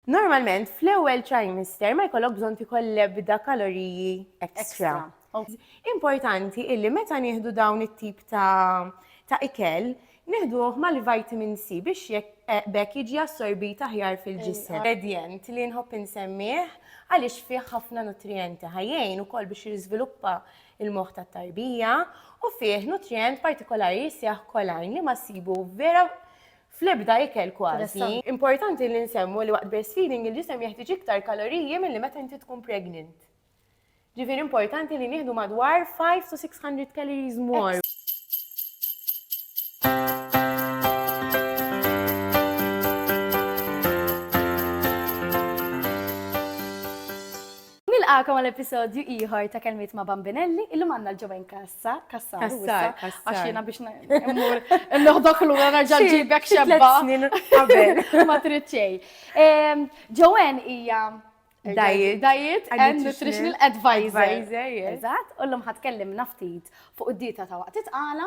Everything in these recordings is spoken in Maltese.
Normalment fl-ewwel trimester ma jkollok bżonn tieħol l-ebda kaloriji ekstra. Importanti illi meta nieħdu dawn it-tip ta' ikel nieħduh mal-vitamin C biex jekk eh, bekk jiġi assorbit aħjar fil-ġisem. Ingredient li nħobb insemmih għaliex fih ħafna nutrijenti ħajjejn ukoll biex jiżviluppa il-moħħ tat-tarbija u fih nutrient partikolari jisseħ kolajn li ma sibu vera fl-ebda ikel kważi. Importanti li nsemmu li waqt breastfeeding il-ġisem jeħtieġ iktar kaloriji milli meta inti tkun pregnant. Ġifieri importanti li nieħdu madwar 5 to 600 calories more. Nilqagħkom għal episodju ieħor ta' Kelmiet ma' Bambinelli. Illum għandna l-ġewwen Kassa, Kassar, Kassar, Kassar. Għax jiena biex immur noħdok lura nerġa' ġibek xebba. snin qabel. Ma trid xejn. Ehm, Ġewwen hija Diet. Diet and Nutritional Advisor. Advisor, yes. Eżatt, u llum ħatkellimna ftit fuq id-dieta ta' waqt it-tqala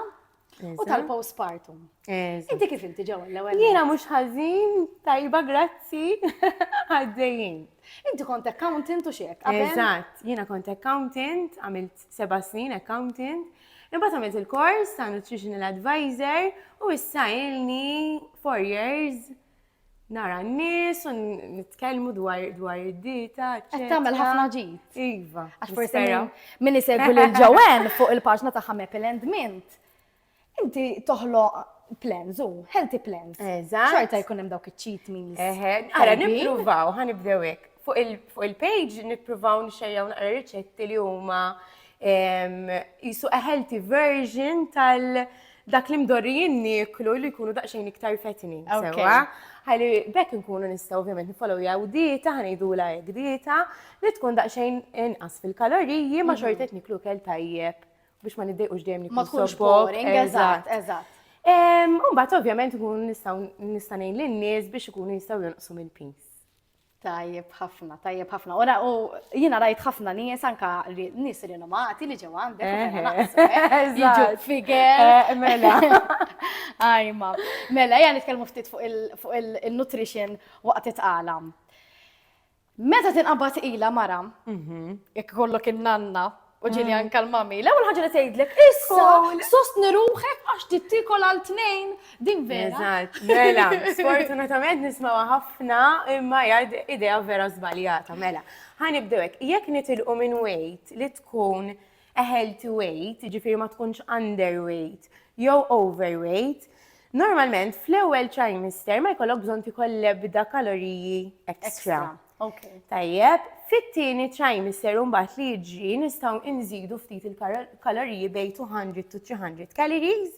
U tal-postpartum. Inti kif inti ġew l-ewwel? Jiena mhux ħażin, tajba grazzi, għaddejjin. Inti kont accountant u xek? Eżatt, jiena kont accountant, għamilt seba' snin accountant, imbagħad għamilt il-kors ta' nutritional advisor u issa ilni four years nara n-nies u nitkellmu dwar dwar id-dieta. Qed tagħmel ħafna ġid. Iva. Għax forsi min isegwi lil Joanne fuq il-paġna ta' Ħamepil and Mint. Inti toħloq plans u healthy plans. Eżatt. Xorta jkun hemm dawk iċ-cheat meals. Eħe, ara nippruvaw, ħanibdew hekk. Fuq il-page nippruvaw nxejjaw naqra riċetti li huma jisu a healthy version tal- dak li mdorrijin niklu li jkunu daqsxejn iktar fetni. Sewa, ħalli bekk nkunu nistgħu ovvjament nifollow jaw dieta, ħanejdu la hekk dieta, li tkun daqsxejn inqas fil-kaloriji ma xorta qed niklu kell tajjeb biex ma niddejqux dejjem niklu. Ma tkunx boring, eżatt, eżatt. Mbagħad ovvjament nkunu nistgħu nista' ngħin lin-nies biex ikunu jistgħu jonqsu mill-pis. Tajjeb ħafna, tajjeb ħafna. Ora, u jina rajt ħafna nies anka nies rinomati li ġew għandek. Eh, eh, eh, Figer. Mela. Ajma. Mela, jgħan nitkellmu ftit fuq il-nutrition waqt itqala. Meta tinqabad ila mara, mhm. jekk kollok il-nanna, U ġili anka l-mami, l-ewwel ħaġa li tgħidlek, issa sostni ruħek għax tittikol għal tnejn din vera. Eżatt, mela, sfortunatament nismawa ħafna imma jgħid idea vera żbaljata, mela. Ħanibdew hekk, jekk nitilqu minn weight li tkun healthy weight, ġifieri ma tkunx underweight jew overweight, normalment fl-ewwel trimester ma jkollok bżonn tikol lebda kaloriji extra. Okay. Tajjeb, fit-tieni trimester mbagħad li jiġri nistgħu inżidu ftit il-kaloriji bej 200 to 300 calories.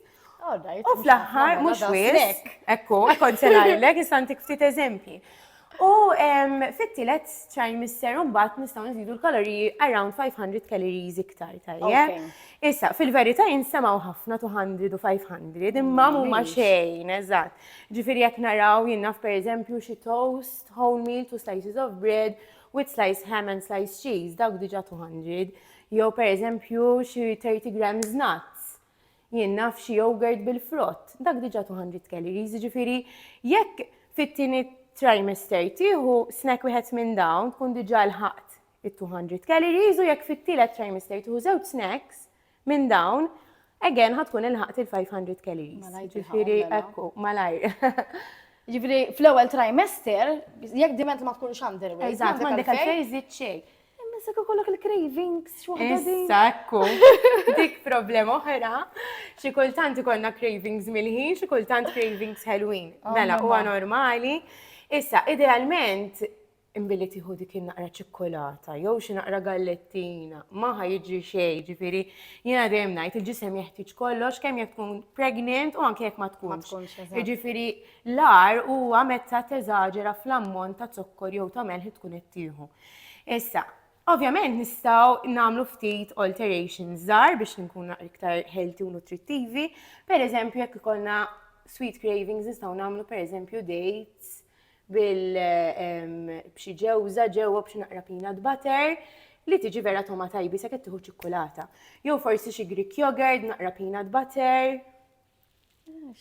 U fl-aħħar mhux wis, ekku, kont se ngħidlek istantik ftit eżempji. U fit-tielet trimester mbagħad nistgħu nżidu l-kaloriji around 500 calories iktar tajjeb. Issa, fil-verità jinsemgħu ħafna 200 u 500, imma mhuma xejn, eżatt. Ġifieri jekk naraw jinnaf pereżempju xi toast, whole meal, two slices of bread, with slice ham and slice cheese, dawk diġa 200, jew per eżempju xi 30 grams nuts, jien naf xi yogurt bil-frott, dak diġa 200 calories, ġifiri jekk fit-tieni trimester tieħu snack wieħed minn dawn tkun diġa l-ħaqt it-200 calories u jekk fit-tielet trimester tieħu żewġ snacks Minn dawn, again ħa tkun ilħaqt il-500 calories. Malajr Ġifieri tilħaqhom, mela. ekku, malajr. Jiġifieri fl-ewwel trimester, jekk diment ma tkunx underweight. Eżatt, m'għandek għalfejn iżżid xejn. Imma jekk ikollok il-cravings xi waħda din. Issa ekku, dik problema oħra, xi kultant ikollna cravings milħin, xi kultant cravings ħelwin. Oh, Mela, mamma. huwa normali. Issa, idealment, Imbilli tieħu dik in-naqra ċikkulata jew xi naqra gallettina, ma ħa jiġri xejn, ġifieri jiena dejjem ngħid il-ġisem jeħtieġ kollox kemm jekk tkun pregnant u anke jekk ma tkunx. Ġifieri l-ar huwa meta teżaġera fl-ammont ta' zokkor jew ta' melħ li tkun qed tieħu. Issa, ovvjament nistgħu nagħmlu ftit alterations żgħar biex nkunu naqra iktar healthy u nutrittivi. Pereżempju jekk ikollna sweet cravings nistgħu nagħmlu pereżempju dates bil b'xi ġewża ġewwa b'xi naqra peanut butter li tiġi vera toma tajbi sa qed tieħu ċikkulata. Jew forsi xi Greek yogurt, naqra peanut butter.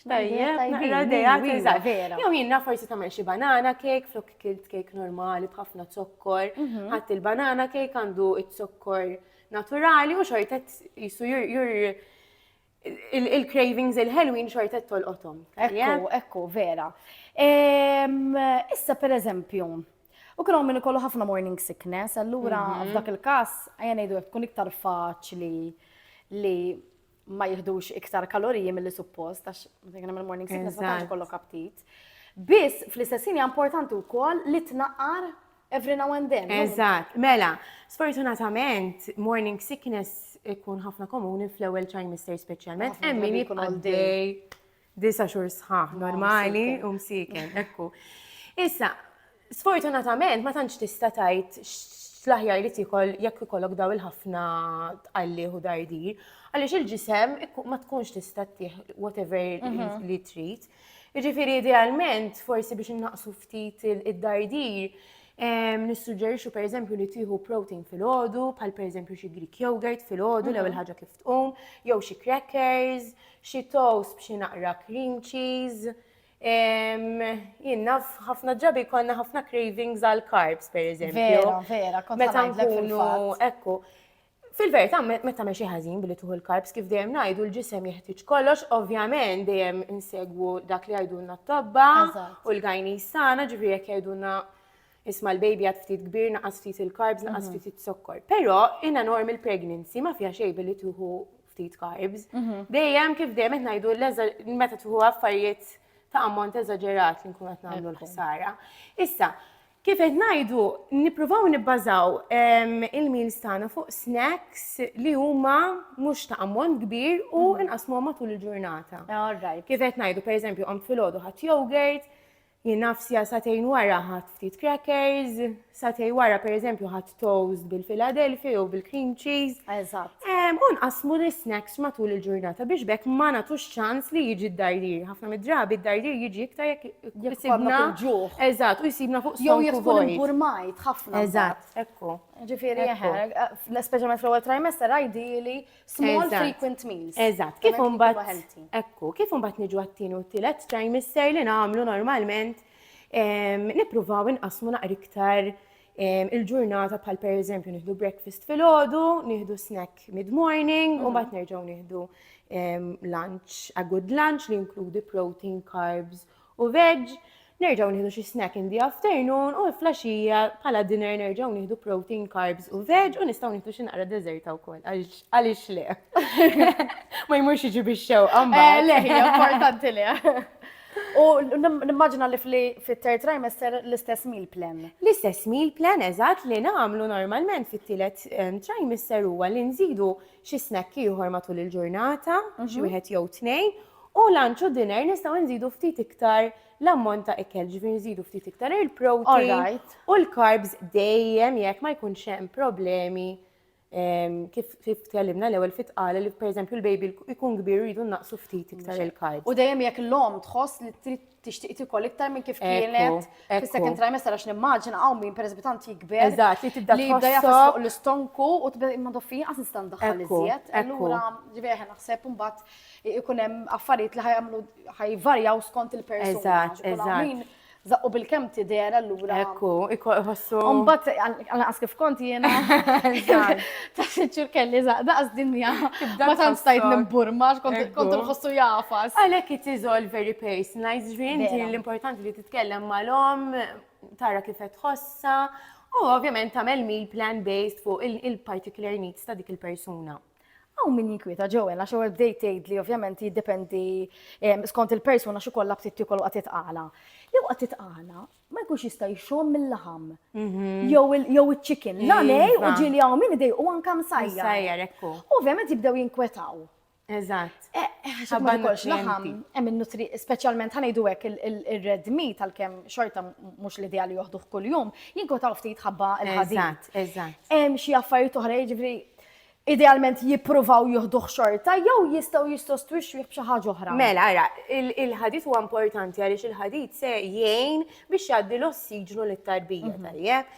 Tajjeb, naqra dejat eżatt. Jew jiena forsi tagħmel xi banana cake flok kilt cake normali b'ħafna zokkor. Mhm. Ħadd il-banana cake għandu z-zokkor naturali u xortet jisu jur il-cravings il-ħelwin xorta tolqothom. Ekku, ekku, vera. Issa per eżempju, u kienu minn ikollu ħafna morning sickness, allura mhm. f'dak il-kas, għajja ngħidu jek tkun iktar faċli li ma jihdux iktar kaloriji mill-li suppost, għax minn morning sickness ma tantx kollok aptit. Biss fl-istessin hija importanti wkoll li tnaqqar Every now and then. Eżatt, mela, sfortunatament morning sickness ikun ħafna komuni fl-ewwel trimester speċjalment hemm min jibqa' dej disa' xhur sħaħ normali u msiken, ekku. Issa, sfortunatament ma tantx tista' tgħid l-aħjar li tikol jekk ikollok daw il-ħafna tqallih u dardir, għaliex il-ġisem ma tkunx tista' tih whatever mhm. li trid. Jiġifieri idealment, forsi biex innaqqsu ftit id-dardir, nissuġġerixxu pereżempju li tieħu protein filgħodu, bħal pereżempju xi Greek yogurt filgħodu l-ewwel mhm. ħaġa kif tqum, jew xi crackers, xi toast b'xi naqra cream cheese. Jien ħafna ġabi konna ħafna cravings għal carbs pereżempju. Vera, vera, kont Meta nkunu ekku. Fil-verità, meta tagħmel xi ħażin billi tuħu l-karbs kif dejjem ngħidu l-ġisem jeħtieġ kollox, ovvjament dejjem insegwu dak li jgħidulna t-tobba u l-gajni sana, ġifieri jekk jgħidulna isma' l-baby għad ftit kbir, naqas ftit il-karbs, naqas mhm. ftit zokkor. Però in a normal pregnancy ma fiha xejn billi tuħu ftit karbs. Mhm. Dejjem kif dejjem qed ngħidu meta tuħu affarijiet ta' ammont eżaġerat li nkun qed nagħmlu l-ħsara. Issa, Kif qed ngħidu, nippruvaw nibbażaw il-meals tagħna fuq snacks li huma mhux ta' ammont kbir u mhm. inqasmuhom matul il-ġurnata. Kif qed ngħidu, pereżempju, qamt filgħodu ħadd yogurt, jien nafsija satejn wara ħadd ftit crackers, satej wara pereżempju ħadd toast bil-Philadelphia jew bil-cream cheese. Eżatt. U nqasmu l-snacks matul il-ġurnata biex bekk ma nagħtux ċans li jiġi d-dardir. Ħafna mid-drabi d-dardir jiġi iktar jekk jisibna ġuħ. Eżatt, u jisibna fuq jew jkun burmajt ħafna. Eżatt, ekku. Ġifieri jeħer, speċjalment fl-ewwel trimester ideali small frequent meals. Eżatt, kif imbagħad ekku, kif imbagħad niġu għat-tieni u t-tielet trimester li nagħmlu normalment nippruvaw inqasmu naqra iktar il-ġurnata bħal per eżempju nieħdu breakfast fil-ħodu, nieħdu snack mid-morning, u bat mhm. nerġaw nieħdu lunch, a good lunch li inkludi protein, carbs u veg, nerġaw nieħdu xi snack in the afternoon u flasġija bħala dinner nerġaw nieħdu protein, carbs u veg u nistgħu nieħdu xi naqra deżerta wkoll għaliex le. Ma jmurx iġi bix-xewqa eh, Le, importanti le. U nimmaġina li fit-third trimester l-istess meal plan. L-istess meal plan eżatt li nagħmlu normalment fit-tielet ehm, trimester huwa li nżidu xi snack ieħor matul il-ġurnata, mhm. xi wieħed jew tnejn, u lunch u dinner nistgħu nżidu ftit iktar l-ammont ta' ikel, ġifieri nżidu ftit iktar il-protein u l-carbs dejjem jekk ma jkunx hemm problemi Kif tkellimna l-ewwel fit tqal li pereżempju l-baby jkun kbir rridu naqsu ftit iktar il-carbs. U dejjem jekk l-omm tħoss li trid tixtieq tikol iktar minn kif kienet fis-second trimester għax nimmaġina hawn min pereżempju tant jikber. Eżatt, li tibda tħossok l-istonku u tibda imma doffi inqas nista' ndaħħal iżjed. Allura ġifieri aħna naħseb imbagħad ikun hemm affarijiet li ħajamlu ħajvarjaw skont il-persuna. Eżatt, eżatt. Zaqqu bil-kem tidher allura. Ekku, ikku iħossu. Umbat, għanqas kif kont jiena. Ta' sinċur kelli daqs dinja. Ma tant stajt nimburma, kont nħossu jafas. Għalek it is all very personalized, ġvien, l-importanti li titkellem mal-om, tara kif qed tħossa, u ovvjament tagħmel meal plan based fuq il-particular needs ta' dik il-persuna. Hawn min jinkwieta Joel għax ewwel bdejt tgħidli ovvjament jiddependi ehm, skont il-persuna xi kollha btit tiekol waqt titqala. Li waqt titqala ma jkunx jista' jxomm mill-laħam. Mhm. Jew iċ-chicken. La iva. nej u ġieli hawn min idej u anke msajjar. Msajjar ekku. Ovvjament jibdew jinkwetaw. Eżatt. Eh, eh, Ħabba kolx laħam, hemm in-nutri, speċjalment ħanejdu hekk il-red meat għalkemm xorta mhux l-idea li joħduh kuljum, jinkwetaw ftit ħabba l-ħadid. Eżatt, eżatt. Hemm xi affarijiet oħra jiġri idealment jippruvaw jieħduh xorta jew jistgħu jissostwixxuh b'xi ħaġa oħra. Mela, ara, il-ħadid huwa importanti għaliex il-ħadid se jgħin biex jgħaddi l-ossiġnu lit-tarbija mhm. tajjeb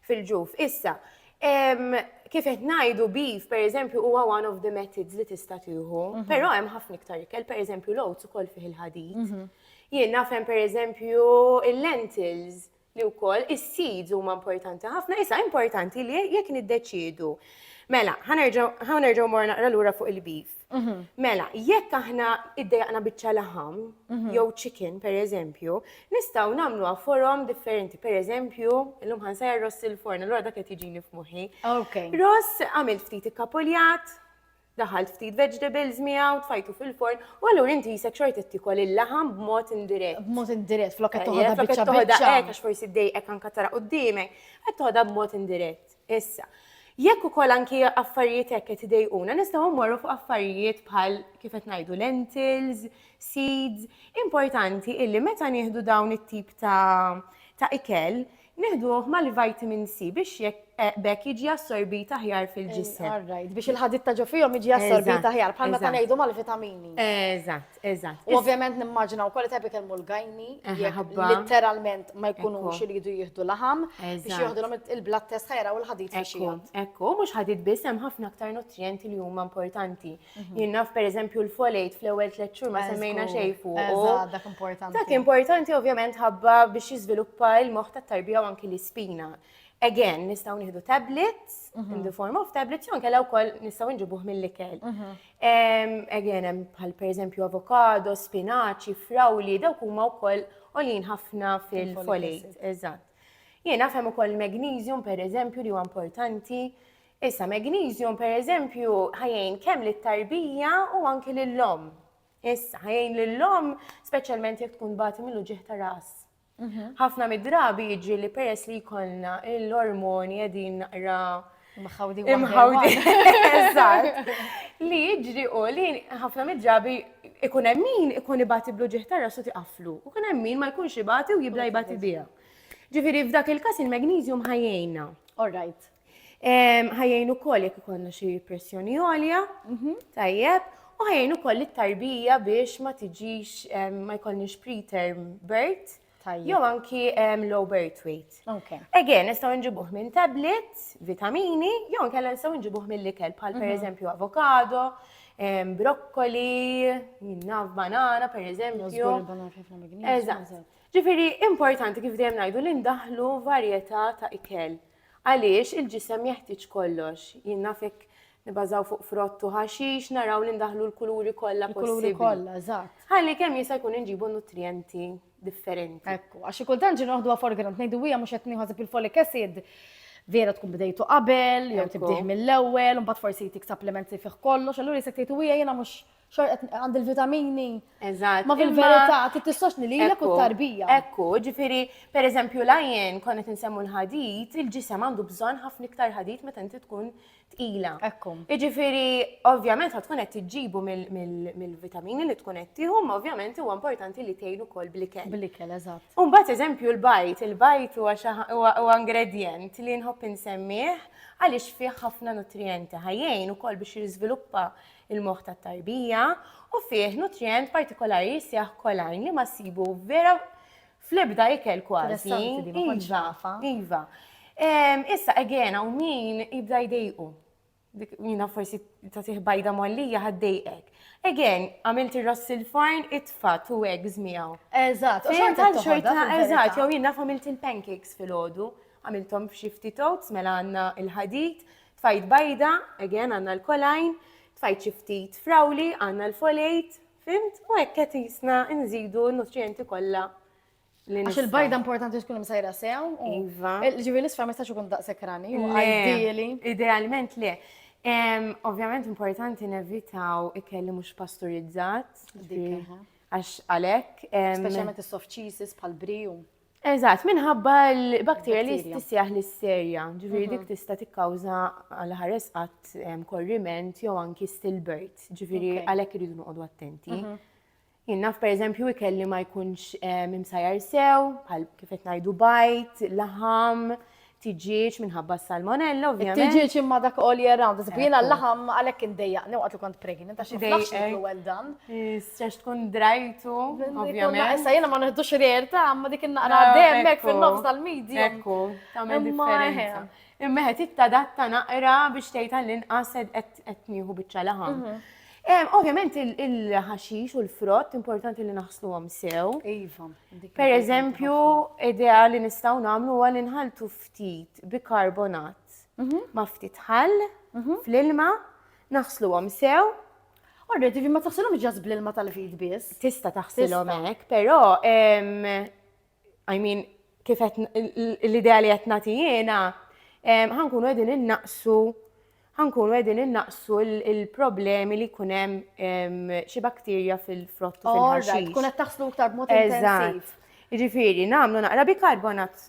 fil-ġuf. Issa, kif qed ngħidu beef, pereżempju, huwa one of the methods li tista' tieħu, mhm. però hemm ħafna iktar ikel, pereżempju l-oats ukoll fih il-ħadid. Mhm. Jien nafhem pereżempju il-lentils li wkoll is-seeds huma importanti ħafna, issa importanti li jekk niddeċiedu. Mela, ħa nerġgħu mor naqra lura fuq il-beef. Mhm. Mela, jekk aħna iddejaqna biċċa laħam, mhm. jew chicken per eżempju, nistgħu nagħmlu forom differenti. Per eżempju, illum ħansajja ross il-forn, allura dak qed jiġini f'moħħi. Ross għamil ftit ikkapuljat, daħħalt ftit vegetables miegħu, tfajtu fil-forn, u allura inti jisek xorta tikol il-laħam b'mod indirett. B'mod indirett, flok qed toħodha biċċa biċċa. Hekk għax forsi dejqek anke tara qudiemek, qed toħodha b'mod indirett. Issa, jekk ukoll anki affarijiet hekk qed idejquna, nistgħu mmorru fuq affarijiet bħal kif qed ngħidu lentils, seeds, importanti illi meta nieħdu dawn it-tip ta' ta' ikel, Nieħduh mal-vitamin C biex b'hekk jiġi assorbit aħjar fil-ġisem. All right, biex il-ħadid ta' ġo fihom jiġi assorbit aħjar, bħal meta ngħidu mal-vitamini. Eżatt, eżatt. U ovvjament nimmaġina wkoll qed ikellmu l-gajni, literalment ma jkunux iridu jieħdu laħam biex jieħdulhom il-blood test ħajra u l-ħadid fix-xija. Ekku, mhux ħadid biss hemm ħafna aktar nutrijenti li huma importanti. Jien naf per eżempju l-folate fl-ewwel tliet xhur ma semmejna xejn fuq. Eżatt, dak importanti. Dak importanti ovvjament ħabba biex jiżviluppa l-moħħ tat-tarbija u anki l-ispina. Again, nistgħu nieħdu tablets, mhm. in the form of tablets, jew kellha wkoll nistgħu nġibuh mill-ikel. Mhm. Again, hemm bħal pereżempju avokado, spinaċi, frawli, dawk huma wkoll għolin ħafna fil-folate. Eżatt. Jiena fem ukoll magnesium pereżempju li huwa importanti Issa magnesium pereżempju ħajjin kemm lit-tarbija u anki lill-omm. Issa ħajjin lill-omm speċjalment jekk tkun bagħti mill ġieħ ta' ras. Mhm. Ħafna mid-drabi jiġri li peress li jkollna l-ormoni qegħdin naqra Mħawdi Mħawdi. Eżatt. Li jiġri u li ħafna mid-drabi ikun hemm min ikun ibati blu ġieħ ta' rasu tiqaflu. U kun hemm min ma jkunx ibati u jibda jibati biha. Ġifieri f'dak il-każ il-magnesium ħajjejna. All right. Ħajjejn ukoll jekk ikollna xi pressjoni għolja, mhm. tajjeb, u ħajjejn ukoll it-tarbija biex ma tiġix ma jkollniex preterm birth jew anki low birth weight. Again, nistgħu nġibuh minn tablet, vitamini, jew nkella nistgħu nġibuh mill-ikel bħal mhm. pereżempju avokado, brokkoli, minnaf banana pereżempju. Ġifieri importanti kif dejjem ngħidu li ndaħlu varjetà ta' ikel. Għaliex il-ġisem jeħtieġ kollox. Jien naf jekk nibażaw fuq frott u ħaxix, naraw li ndaħlu l-kuluri kollha possibbli. Kuluri kollha, eżatt. Ħalli kemm jista' jkun inġibu nutrijenti differenti. Ekku, għax xi kultant ġi noħduha for granted, ngħidu hija mhux qed nieħu il folic acid, vera tkun bdejtu qabel, jew tibdih mill-ewwel, imbagħad forsi jtik supplements li fih kollox, allura jisek tgħid hija jiena mhux xor qed għand il-vitamini. Eżatt. Ma fil-verità trid tissostni lilek u tarbija. Ekku, ġifieri, pereżempju l-ajjen kon qed insemmu l-ħadid, il-ġisem għandu bżonn ħafna iktar ħadid meta inti tkun tqila. Ekku. Ġifieri, ovvjament ħad tkun qed tiġġibu mill-vitamini li tkun qed tieħu, ma ovvjament huwa importanti li tgħin ukoll blikel. Blikel, eżatt. U mbagħad eżempju l-bajt, il-bajt huwa ingredjent li nħobb insemmih għaliex fih ħafna nutrijenti ħajjejn ukoll biex jiżviluppa il-moħħ tat-tarbija, u fih nutrijent partikolari li jseħħ kolajn li ma ssibu vera fl-ebda ikel kważi. Iva, iva. Issa, again, u min jibda jdejqu. Jina forsi ta' bajda mollija ħaddejqek. Again, għamilt il-ross il-farn, itfa, tu eggs miegħu. Eżatt, u xorta xorta, eżatt, jew jina għamilt il-pancakes fil-ħodu, għamiltom f'xifti totes, mela għanna il-ħadit, Tfajt bajda, again għandna l-choline, tfajt xi ftit frawli għandna l-folate, fimt? U hekk qed jisna nżidu n-nutrijenti kollha Għax il-bajda importanti tkun msajra sew. Iva. Ġivi l-isfra ma jistax ikun daqshekk rani, ideali. Idealment le. Ovvjament importanti nevitaw ikelli mhux pasturizzat. Għax għalek. Speċjalment is-soft cheeses pal briju. Eżatt, minħabba l-bakterja li tissejjaħ l-isterja, ġifieri mhm. dik tista' tikkawża għal ħares qatt korriment jew anki stillbirth, ġifieri għalhekk iridu noqogħdu attenti. Mhm. Jien naf pereżempju ikelli ma jkunx imsajjar sew, bħal kif qed ngħidu bajt, laħam, tiġieġ minħabba s-salmonella, ovvjament. Tiġieġ imma dak all year round, eżempju jiena l-laħam għalhekk indejjaq, new għatlu kont pregnant, għax niflax niklu well done. Sex tkun drajtu, ovvjament. Issa jiena ma neħdux rare ta' ma dik innaqra demmek fin-nofs tal-medja. Ekku, tagħmel differenza. Imma qed ittadatta naqra biex tgħid għall-inqas qed nieħu biċċa laħam. Mhm. Ovvjament il-ħaxix u l-frott importanti li naħsluhom sew. Iva. Per eżempju, idea li nistgħu nagħmlu huwa li nħaltu ftit bikarbonat mhm. ma' ftit ħall mhm. fl-ilma, naħsluhom sew Orret, ma taħsilhom ġas bl-ilma tal-fid biss. Tista taħsilhom hekk, però I mean, kif l-idea li qed nagħti jiena, ħankunu qegħdin innaqsu ħa nkunu qegħdin innaqqsu l-problemi li jkun hemm xi bakterja fil-frott u fil-ħaxix. Tkun qed taħslu iktar b'mod intensiv. Ġifieri, nagħmlu naqra bikarbonat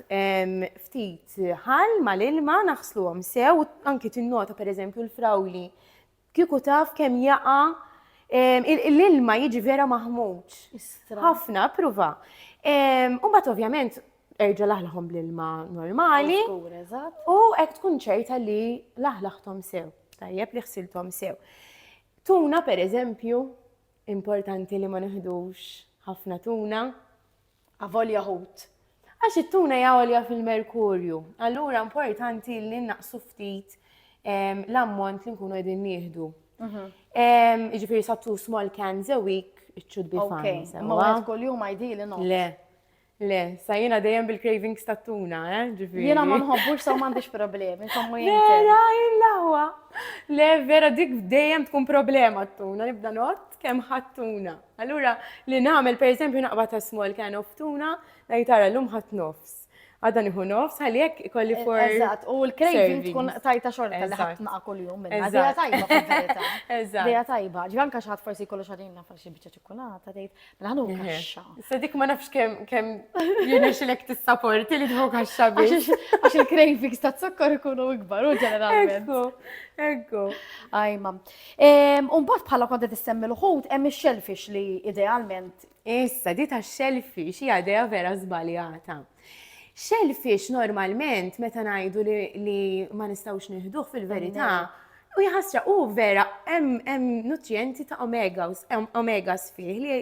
ftit ħal mal-ilma naħsluhom sew, anki tinnota pereżempju l-frawli kieku taf kemm jaqa' l-ilma jiġi vera maħmuġ. Ħafna, pruva. U bat ovvjament erġa' laħlaħhom bl-ilma normali. U hekk tkun ċerta li laħlaħthom sew, tajjeb li ħsilthom sew. Tuna per eżempju, importanti li ma neħdux ħafna tuna, avolja ħut. Għax it-tuna jgħolja fil-merkurju, allura importanti li naqsu ftit ehm, l-ammont li nkunu qegħdin nieħdu. Mhm. Ehm, Iġifieri sa two small cans a week, it should be fine. Ma għed kol jum għajdi li no. Le, Le, sa jiena dejjem bil-cravings ta' tuna, eh, ġifieri. Jiena ma nħobbux sa m'għandix problemi, insomma jien. Vera, il-lawa. Le, vera dik dejjem tkun problema t-tuna, nibda not kemm ħadd tuna. Allura li nagħmel pereżempju naqbad ta' small can of tuna, ngħid tara llum ħadd nofs. Għadha nieħu nofs ħalli hekk ikolli e, for. Eżatt, u l-craving tkun tajta xorta li ħadd naqa' kuljum minna. Dejja tajba fil-verità. Eżatt. Dejja tajba. Ġivanka xi ħadd forsi jkollu xaħdin nafar xi biċċa Kulata tgħid, mela ħanu kaxxa. Sa dik ma nafx kemm kemm jirnexilek tissaporti li tħu kaxxa biex. Għax il-cravings ta' zokkor ikunu ikbar u ġeneralment. Ekku, ekku. Ajma. Umbat bħala konta tissemmi l-ħut hemm ix-shellfish li idealment. Issa, di ta' shellfish hija idea vera żbaljata. Shellfish normalment meta ngħidu li ma nistgħux nieħduh fil-verità U jħasra, u vera, hemm nutrijenti ta' omegas, omegas fih li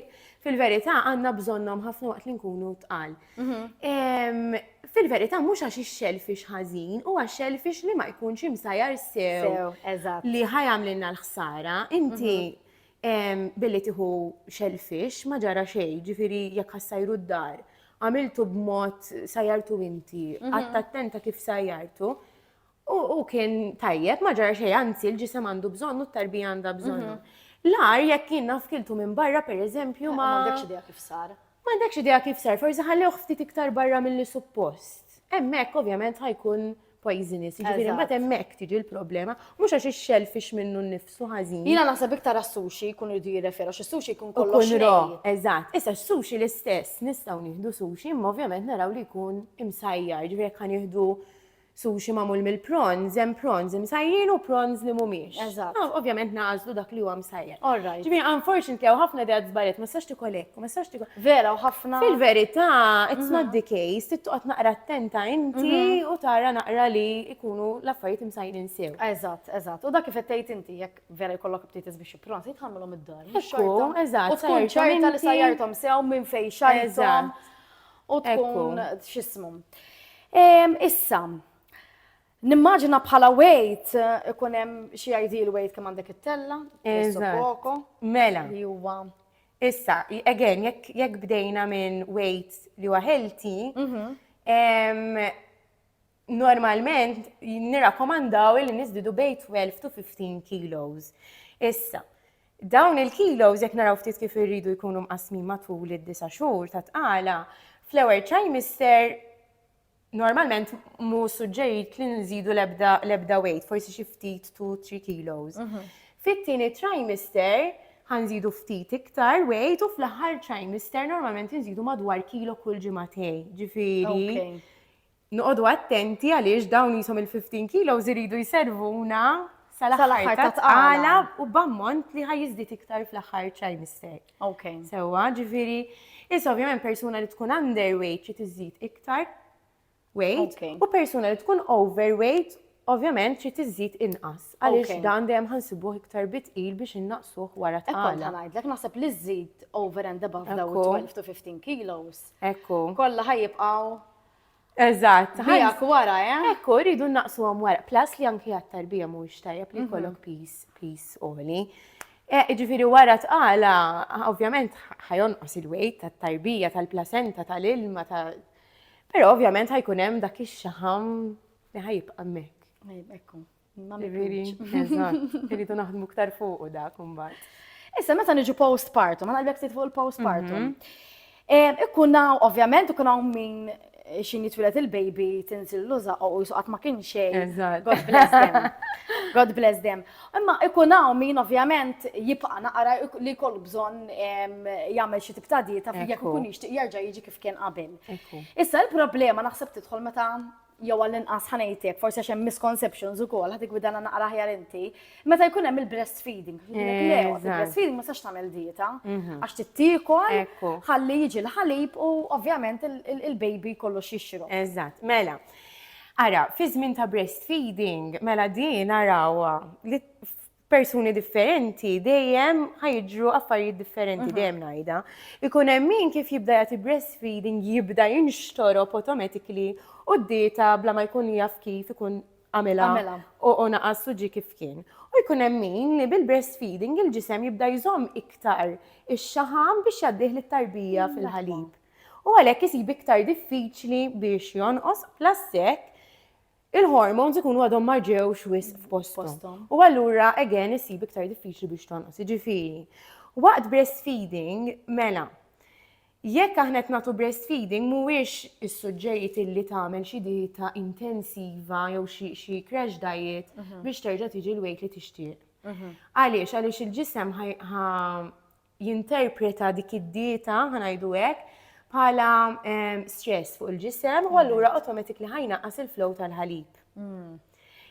fil-verità għandna bżonnhom ħafna waqt li nkunu tqal. Mhm. Fil-verità mhux għax ix-xelfix ħażin u għax xelfix li ma jkunx imsajar sew li ħajamlilna l-ħsara. Inti mhm. billi tieħu xelfix ma ġara xejn, ġifieri jekk ħassajru d-dar, għamiltu b'mod sajjartu inti, mhm. għatta attenta kif sajjartu, U u kien tajjeb, ma ġara xejn, anzi l-ġisem għandu bżonnu, t-tarbija għandha bżonnu. L-ar jekk jien naf kiltu minn barra pereżempju ma. M'għandekx idea kif sar. M'għandekx idea kif sar, forsi ħallewh ftit iktar barra milli suppost. Hemmhekk ovvjament ħajkun poisonous, jiġifieri mbagħad hemmhekk tiġi l-problema, mhux għax ix-shellfish minnu nnifsu ħażin. Jiena naħseb iktar għas-sushi jkunu jridu jirreferu, għax is-sushi jkun kollox. Ikun raw, nej. eżatt. Issa s-sushi l-istess, nistgħu nieħdu sushi imma ovvjament naraw li jkun imsajjar, ġifieri jekk ħa nieħdu Sushi magħmul mill-prawns, hemm prawns imsajjrin u prawns li mhumiex. Eżatt. Ovvjament nagħżlu dak li huwa msajjer. All right. Ġifieri unfortunately hawn ħafna ideat żbaljat, ma tistax tikol hekk, ma tistax tikol. Vera u ħafna. Fil-verità, it's not the case, trid toqgħod naqra attenta inti mhm. u tara naqra li jkunu l-affarijiet imsajjrin sew. Eżatt, eżatt. U dak kif qed tgħid inti jekk vera jkollok btiet biex ipprons, jitħammilhom id-dar. Ekku, eżatt. U tkun ċerta li sajjarthom sew minn fejn xajthom. U tkun x'ismu. Issa, Nimmaġina bħala wejt eh, ikun hemm xi ideal wejt kemm għandek it-tella, poko. Mela. Li huwa. Issa, again, jekk bdejna minn wejt li huwa healthy, mhm. normalment nirrakkomandaw li niżdidu bej 12 to 15 kilos. Issa, dawn il-kilos jekk naraw ftit kif irridu jkunu mqasmin matul id-disa' xhur ta' tqala, fl-ewwel trimester normalment mu suġġerit li nżidu l-ebda weight, forsi xi ftit 2-3 kilos. Mhm. Fit-tieni trimester ħanżidu ftit iktar weight u fl-aħħar trimester normalment nżidu madwar kilo kull ġimagħtej. Ġifieri. Noqogħdu attenti għaliex dawn qishom il-15 kilos iridu jservuna sal-aħħar ta' tqala u b'ammont li ħa jiżdied iktar fl-aħħar trimester. Ok. Sewwa, ġifieri, issa ovvjament persuna li tkun underweight xi tiżid iktar weight Ok. u persuna li tkun overweight ovvjament xi tiżid inqas għaliex Ok. dan dejjem ħansibuh iktar bitqil biex innaqsuh wara Ekkont tqala. ħanajdlek, naħseb li żżid over and above daw Ekku. 12 to 15 kilos, Ekku. kollha ħajibqgħu Eżatt. Ħajjak wara, eh? Ekku, rridu naqsu għam wara. Plus li anki għat-tarbija mhuwiex tajjeb li mhm. jkollok pis, pis oli. Eh, ġifiri wara tqala, ovvjament ħajonqos il-wejt tat-tarbija, tal-placenta, tal-ilma, ta' Pero ovvjament ħajkun hemm dak ix-xaħam li ħajibqa' mek. Ekku. Ma Ġifieri, mibqux. eżatt, irridu naħdmu ktar fuqu dak imbagħad. Issa meta niġu postpartum, għana għalbek fuq il-postpartum. Em, Ikkun hawn, ovvjament, ikun hawn min eh, xin jitwilet il-baby tinsil luża u jisuqat ma kien xejn. Eżatt. God bless them. God bless them. Imma ikun hawn min ovvjament jibqa' naqra ik- li jkollu bżonn em, jagħmel xi tip ta' dieta jekk Ekku. ikun jixtieq jerġa' jiġi kif kien qabel. Ekku. Issa l-problema naħseb tidħol meta jew għall-inqas ħa ngħidlek, forsi għax hemm misconceptions ukoll, ħad igwidana naqra aħjar inti, meta jkun hemm il-breastfeeding, il-breastfeeding ma sax tagħmel dieta, mhm. għax tittiekol, ħalli jiġi l-ħalib u ovvjament il-baby kollu xixru. Eżatt, mela. Ara, fi żmien ta' breastfeeding, mela din arawa li persuni differenti dejjem ħajġru affarijiet differenti mhm. dejjem ngħidha. Ikun hemm min kif jibda jagħti breastfeeding jibda jinxtorob automatically u d-dieta bla ma jkun jaf kif ikun għamela u naqas u ġi kif kien. U jkun hemm min li bil-breastfeeding il-ġisem jibda jżomm iktar ix-xaħam biex jaddih lit-tarbija mm, fil-ħalib. U għalhekk isib iktar diffiċli biex jonqos plastek il-hormones ikunu għadhom ma ġewx wisq f'posthom u allura again issib iktar diffiċli biex tonqos. Jiġifieri, waqt breastfeeding mela jekk aħna qed nagħtu breastfeeding mhuwiex is-suġġerit illi tagħmel xi dieta intensiva jew xi crash diet mhm. biex terġa' tiġi l-weight li tixtieq. Mhm. Għaliex għaliex il-ġisem jinterpreta dik id-dieta, ħanajdu hekk, bħala ehm, stress fuq il-ġisem u allura automatic li ħajna qas il-flow tal-ħalib. Mm.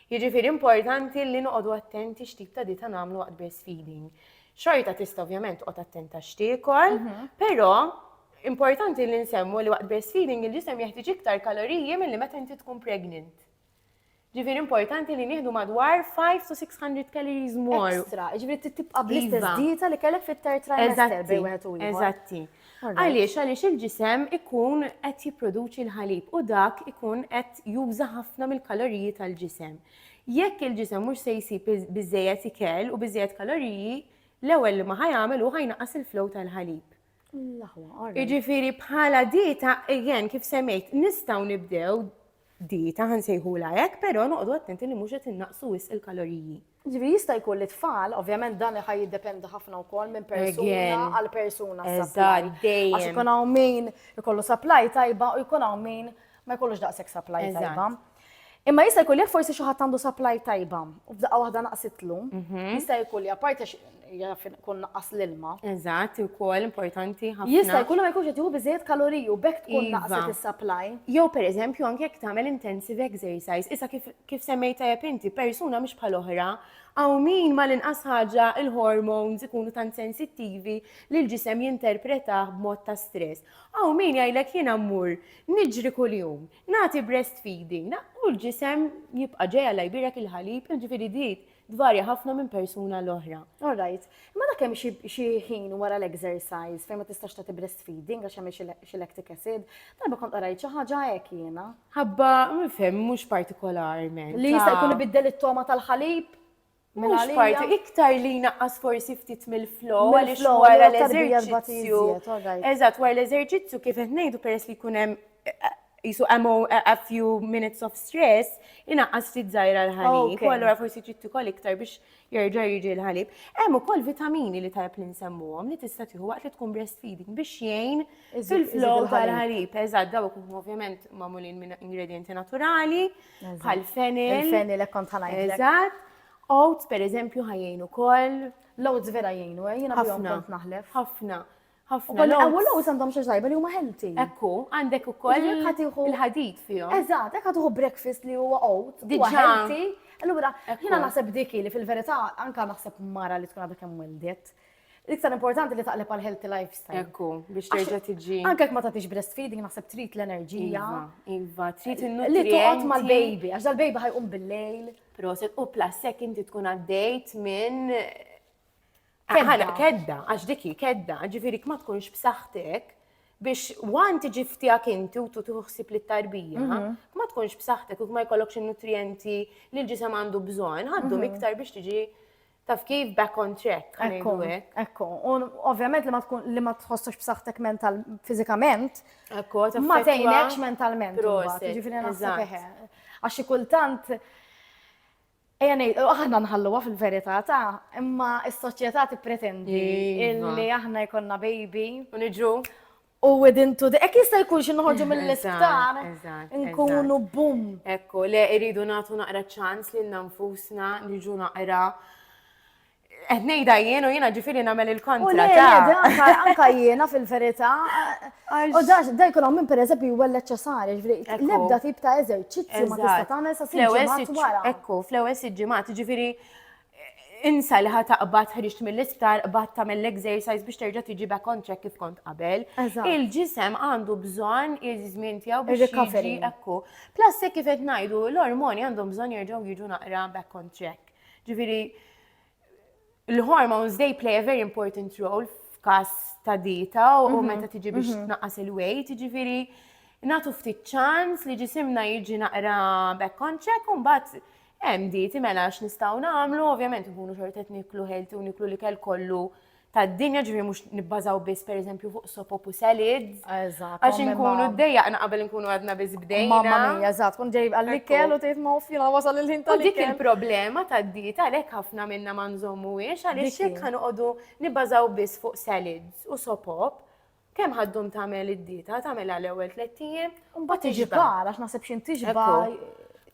Jiġifieri importanti li noqogħdu attenti x'tip ta' dieta nagħmlu waqt breastfeeding. Xorta tista' ovvjament toqgħod attenta x'tiekol, mhm. però importanti li nsemmu li waqt breastfeeding il-ġisem jeħtieġ iktar kaloriji milli meta inti tkun pregnant. Ġifieri importanti li nieħdu madwar 5 to 600 calories more. Extra, ġifieri trid tibqa' bl-istess Iva. dieta li kellek fit-third trimester Eżatti, bejn wieħed u ieħor. eżatti. Alright. Għaliex, għaliex il-ġisem ikun qed jipproduċi l-ħalib u dak ikun qed juża ħafna mill-kaloriji tal-ġisem. Jekk il-ġisem mhux se jsib biz- biżejjed ikel u biżejjed kaloriji, l-ewwel li ma ħajamel hu ħajnaqqas il-flow tal-ħalib. L-aħwa, alright. Jiġifieri bħala dieta, again, kif semmejt, nistgħu nibdew dieta ħa nsejħulha hekk, però noqogħdu attenti li mhux qed innaqqsu wisq il-kaloriji. Jiġifieri jista' jkun li t-tfal, ovvjament dan ħa jiddependi ħafna wkoll minn persuna għal persuna s-supply. Għax ikun hawn min ikollu supply tajba u jkun hawn min ma jkollux daqshekk supply tajba. Imma jista' jkun li forsi xi ħadd għandu supply tajba u f'daqqa waħda naqsitlu, mhm. jista' jkun li apparti jaf ikun naqqas l-ilma. Eżatt, ukoll importanti ħafna. Jista' jkun li ma jkunx qed jieħu biżejjed kaloriji u b'hekk tkun Iva. naqqset is-supply. Jew pereżempju anke jekk tagħmel intensive exercise, issa kif kif semmejt tajjeb inti, persuna mhix bħal oħra, hawn min mal-inqas ħaġa il-hormones ikunu tant sensittivi li l-ġisem jinterpretah b'mod ta' stress. Hawn min jgħidlek jiena mmur niġri kuljum, nagħti breastfeeding, na- u l-ġisem jibqa' ġej Alla jbierek il-ħalib, jiġifieri di Tvarja ħafna minn persuna l-oħra. All right. Imma dak hemm xi xi ħin wara l-exercise fejn ma tistax tagħti breastfeeding għax hemm xi xi lactic acid. Darba kont qrajt xi ħaġa hekk jiena. Ħabba, nifhem, mhux partikolarment. Li jista' jkun ibiddel it-togħma tal-ħalib? Mhux Mingħalija? parti, iktar li jnaqqas forsi ftit mill-flow għaliex Mill-flow, wara allura t-tarbija tbati l-eżerċizzju. iżjed, all right. Eżatt, wara l-eżerċizzju kif qed ngħidu peress li jkun hemm jisu a few minutes of stress, inaqqas ftit zaħira l-ħalib, u għallura forsi trid tikol iktar biex jerġa' jiġi l-ħalib. Hemm ukoll vitamini li tajb li nsemmuhom li tista' tieħu waqt li tkun breastfeeding biex jgħin fil-flow tal-ħalib. Eżatt, dawk ovvjament magħmulin minn ingredienti naturali, bħal fenil. Il-fenil hekk kont ħanajt. Eżatt. Oats, per eżempju, ħajjin ukoll. L-oats vera jgħinu, eh, jiena bihom kont naħlef. Ħafna. ħafna. Ukoll il-qawwa l-oats għandhom xi tajba li huma healthy. Ekku, għandek ukoll il-ħadid fihom. Eżatt, hekk ħaduħu breakfast li huwa oat, huwa healthy. Allura, jiena naħseb dik li fil-verità anke naħseb mara li tkun għadha kemm wildet. L-iktar importanti li taqleb għal healthy lifestyle. Ekku, biex terġa' tiġi. Anke jekk ma tagħtix breastfeeding naħseb trid l-enerġija. Iva, iva trid in-nutrienti. Li toqgħod mal-baby, għax dal-baby ħajqum bil-lejl. Proset, u plus jekk inti tkun għaddejt minn Kedda. Kedda, għax dik hi kedda, ġifieri ma tkunx b'saħħtek biex wan tiġi ftijak inti u tu tuħsib li tarbija, mhm. ma tkunx b'saħħtek u ma jkollokx in-nutrienti li l-ġisem għandu bżonn, għaddu mhm. iktar biex tiġi taf kif back on track. Ekku, ekku. U ovvjament li ma tkun li ma tħossux b'saħħtek mental fiżikament. Ekku, ma tgħinekx mentalment. Ġifieri naħseb Għax kultant Ejja ngħid, aħna nħalluha fil-verità ta', imma s-soċjetà tippretendi li aħna jkollna baby. U niġu. U within two days, hekk jista' jkun xi noħorġu mill-isptar, nkunu bum. Ekku, le iridu nagħtu naqra ċans lilna nfusna, niġu naqra Qed ngħidha jien u jiena ġifieri nagħmel il-kontra ta'. Anka jiena fil-verità. U dax da jkun hawn minn pereżempju jwelled ċesari, ġifieri l-ebda tip ta' eżerċizzju ma tista' tagħmel sa siġġimat wara. Ekku, fl-ewwel siġġimat, ġifieri insa li ħa taqbad ħriġt mill-isptar, qbad tagħmel l-exercise biex terġa' tiġi back on track kif kont qabel. Il-ġisem għandu bżonn iż-żmien tiegħu biex jiġi ekku. Plus kif qed ngħidu, l-ormoni għandhom bżonn jerġgħu jiġu naqra back on track. Ġifieri l-hormones they play a very important role f'każ ta' dieta u mhm. meta tiġi biex mhm. tnaqqas il-weight, ġifieri natu ftit ċans li ġisimna jiġi naqra back konċek un bat hemm dieti mela x'nistgħu nagħmlu, ovvjament nkunu xortet niklu ħelti u niklu li kell kollu tad-dinja ġifieri mhux nibbażaw biss pereżempju fuq soap u salads. Eżatt. Għax inkunu dejjaqna qabel inkunu għadna biss bdejna. Mamma mia, eżatt, kont ġej għall-ikel u tgħid mawf jiena wasal il-ħin tal Dik il-problema tad-dieta għalhekk ħafna minna ma nżommuhiex għaliex jekk ħanoqogħdu nibbażaw biss fuq salads u sopop, Kemm ħaddum tagħmel id-dieta, tagħmel għal ewwel tliet ijiem, u mbagħad tiġba' għax naħseb xi tiġba'.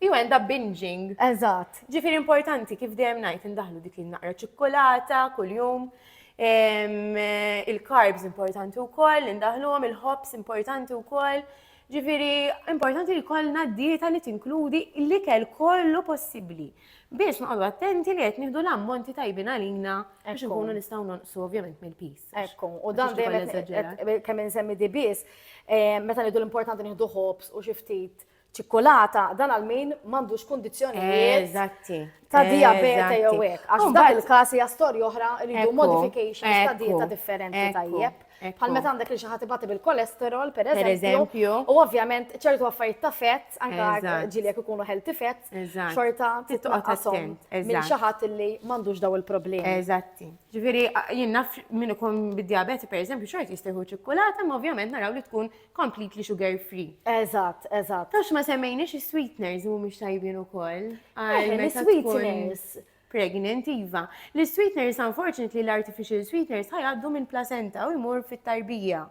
You end up binging. Eżatt. Ġifieri importanti kif dejjem ngħid indaħlu dik il-naqra ċikkulata kuljum. Il-carbs importanti wkoll, indaħluhom il-ħobs importanti wkoll. Ġifieri importanti li kollna dieta li tinkludi l-ikel kollu possibbli. biex noqogħdu attenti li qed nieħdu l-ammonti tajbin għalina biex nkunu nistgħu nonqsu ovvjament mill-pis. Ekku, u dan dejjem kemm insemmi di biss, eh, meta ngħidu l-importanti nieħdu ħobs u xi ftit ċikkulata, dan għal min m'għandux kundizzjonijiet. Eżatti. Ta' diabete jew hekk. Għax f'dak il-każ hija storja oħra rridu modifications ta' dieta differenti tajjeb. Bħal meta għandek li xi ħadd ibati bil-kolesterol, per eżempju. U ovvjament ċertu affarijiet ta' fett, anke ġieli jekk ikunu healthy fett, xorta titqasom minn xi ħadd li m'għandux daw il-problemi. Eżatti. Ġifieri jien naf min ikun bid-diabeti per eżempju xort jistieħu ċikkulata, ma ovvjament naraw li tkun completely sugar free. Eżatt, eżatt. Tax ma semmejniex is-sweeteners mhumiex tajbin ukoll. Is-sweeteners. pregnant iva. L-sweeteners unfortunately l-artificial sweeteners ħajgħaddu minn placenta u jmur fit-tarbija.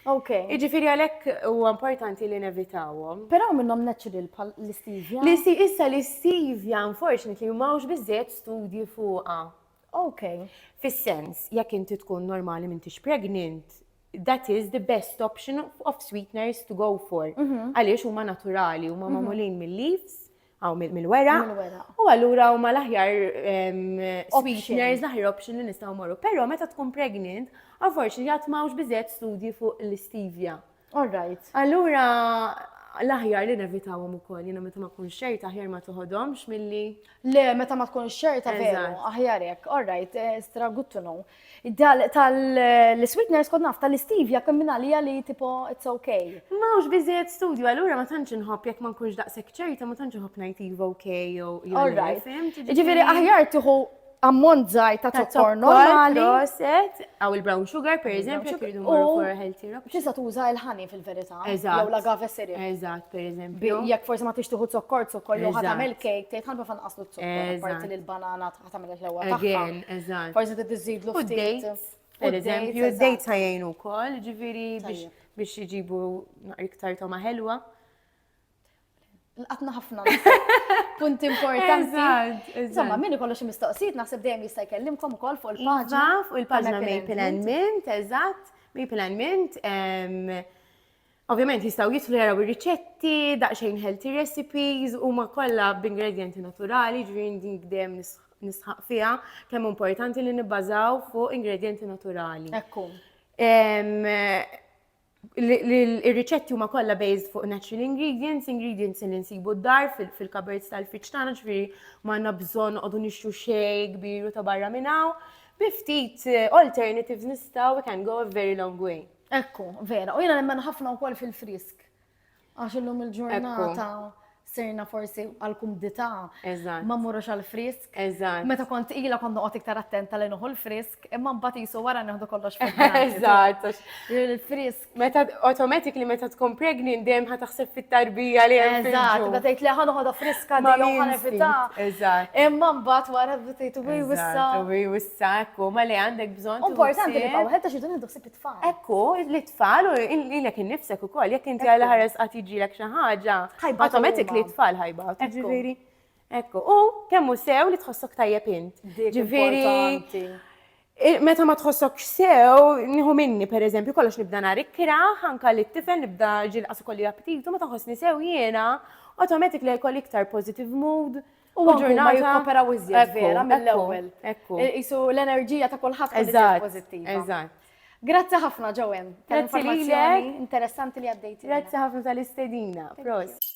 Ok. Iġifiri għalek u importanti li nevitawom. Pero minnom natural pal l-istevia? L-isti issa l-istevia unfortunately mawx bizzet studji fuqa. Ok. Fis-sens, jekk inti tkun normali mintix pregnant, that is the best option of sweeteners to go for. Mhm. Għaliex huma naturali, huma magħmulin mill-leaves, Aw mill-weraq. U allura huma l-aħjar sweeteners, l-aħjar option li nistgħu morru. Però meta tkun pregnant, unfortunately għad mawx biżejjed studji fuq l-istevia. All right. Allura l-aħjar li nevitawhom ukoll, jiena meta ma tkunx xejta aħjar ma toħodhomx milli. Le, meta ma tkunx xejta veru, aħjar hekk. All right, eh, stra good to know. Dal tal-sweetness kod naf tal-istevia kemm minn għalija li tipo it's okay. Ma hux biżejjed studju, allura ma tantx inħobb jekk ma nkunx daqshekk ċerta ma tantx inħobb ngħid iva okay jew jew. Ġifieri aħjar tieħu ammont żgħir ta' zokkor normali. Proset, għaw il-brown sugar per eżempju, jekk irridu morru for healthy rock. Tista' tuża l-ħani fil-verità. Eżatt. Jew l-agave syrup. Eżatt, per eżempju. Jekk forsi ma tix tieħu zokkor, zokkor jew ħadd tagħmel cake, tgħid ħalba fan qaslu zokkor, parti l-banana tagħmel il-ħlewwa tagħha. Again, eżatt. Forsi trid iżidlu U ftit. d-dates, per eżempju, d-dates ħajjin ukoll, ġifieri biex Tajjeb. biex iġibu naqra iktar toma ħelwa. Lqatna ħafna punti importanti. Eżatt, Insomma, eżatt. min ikollu xi mistoqsijiet naħseb dejjem jista' jkellimkom ukoll fuq Iva, il-paġna. fuq il-paġna tal-Maple and Maple and Mint, eżatt, Maple and Mint, em, Ovvjament jistgħu jidħlu jaraw ir-riċetti, daqsxejn healthy recipes, huma kollha b'ingredjenti naturali, ġifieri din dejjem nisħaq fiha kemm importanti li nibbażaw fuq ingredjenti naturali. Ekku. Ir-riċetti huma kollha based fuq natural ingredients, ingredients li nsibu d-dar fil-kaberts tal-friġġ tagħna, ġifieri ma għandna bżonn noqogħdu nixtru xejn kbir u ta' barra minn hawn. Bi ftit alternatives nistgħu we can go a very long way. Ekku, vera. U jena nemmen ħafna wkoll fil-frisk. Għax illum il-ġurnata sirna forsi għal-kumdita. Ma morrux għal-frisk. Meta kont ila kont noqgħod iktar attenta li noħu l-frisk, imma mbagħad jisu wara neħdu kollox Eżatt. Il-frisk. Meta automatic li meta tkun pregnant dejjem ħa taħseb fit-tarbija li hemm. Eżatt, meta tgħid li ħadd ħodha friska ma ħanevita. Eżatt. Imma mbagħad wara tgħid wi wissa. Wi wissa, ma li għandek bżonn. Importanti li bawħed ta' xi dun ħsieb tfal. Ekku, li tfal u lilek innifsek ukoll, jekk inti għal ħares qatt jiġrilek xi ħaġa, automatik li tfal ħajba. Ġifieri, ekku, u kemm hu sew li tħossok tajjeb int. Ġifieri, meta ma tħossok sew, nieħu minni pereżempju, kollox nibda nhar ikkra, ħanka li t-tifel nibda ġilqas ukoll aptitu, meta ħossni sew jiena, automatik li jkolli iktar positive mood, U anke ma jikkooperaw iżjed vera mill-ewwel. Ekku. Qisu l-enerġija ta' kulħadd tkun iżjed pożittiva. Eżatt. Grazzi ħafna Joanne tal-informazzjoni interessanti li għaddejtilna. Grazzi ħafna tal-istedina. Prosit.